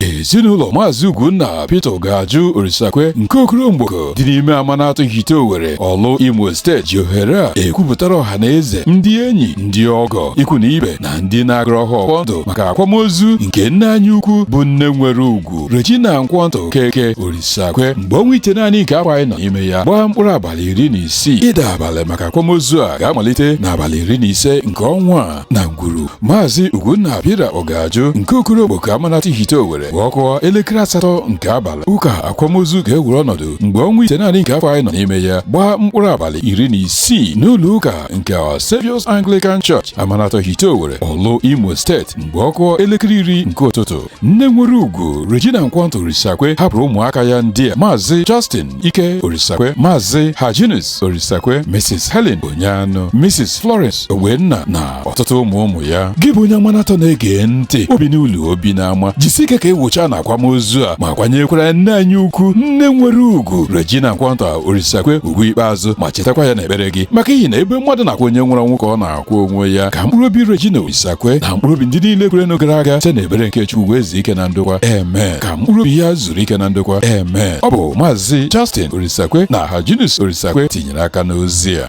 ezinụlọ maazị Ugwunna Peter Ogaju Orisakwe nke Okoro Mgboko dị n'ime Amanatọ Ihite Owere Ọlụ Imo steeti ji ohere a ekwupụtara ọha na eze ndị enyi ndị ọgọ ikwu na ibe na ndị na-agọrọ ha ọfọ ndụ maka akwamozu nke nne anyị ukwu bụ nne nwere ugwu Regina Nkwonta Okeke Orisakwe mgbe ọnwa ite naanị nke afọ anyị nọ n'ime ya gbaa mkpụrụ abalị iri na isii ịda abalị maka akwamozu a ga-amalite n'abalị iri na ise nke ọnwa a na ngwuru maazị Ugwunna Peter Ogaju nke Okoro Mgboko Amanatọ Ihite Owere mgbe ọ kụọ elekere asatọ nke abalị ụka akwamozu ga-ewere ọnọdụ mgbe ọnwa ite naanị nke afọ anyị nọ n'ime ya gbaa mkpụrụ abalị iri na isii n'ụlọ ụka nke Our Saviour's Anglican Church Amanatọ Ihite Owere Ọlụ Imo steeti mgbe ọ kụọ elekere iri nke ụtụtụ nne nwere ugwu Regina Nkwonta Orisakwe hapụrụ ụmụaka ya ndị a maazị Justin Ike Orisakwe maazị Hyginus Orisakwe Mrs Helen Onyeanụ Mrs Florence Ogbenna na ọtụtụ ụmụ ụmụ ya gị bụ onye Amanatọ na-ege ntị o bi n'ụlọ o bi n'ama jisi ike ka ị wụchaa na akwamozu a ma kwanyekwara nne anyị ukwu nne nwere ugwu Regina Nkwonta Orisakwe ugwu ikpeazụ ma chetakwa ya n'ekpere gị maka ihi na ebe mmadụ na-akwa onye nwụrụ anwụ ka ọ na-a kwa onwe ya ka mkpụrụ obi Regina Orisakwe na mkpụrụ obi ndị niile kwerenụ gara aga site n'ebere nke Chukwu wee zuo ike na ndokwa amen ka mkpụrụ obi ya zuru ike na ndokwa amen ọ bụ maazị Justin Orisakwe na Hyginus Orisakwe tinyere aka n'ozi a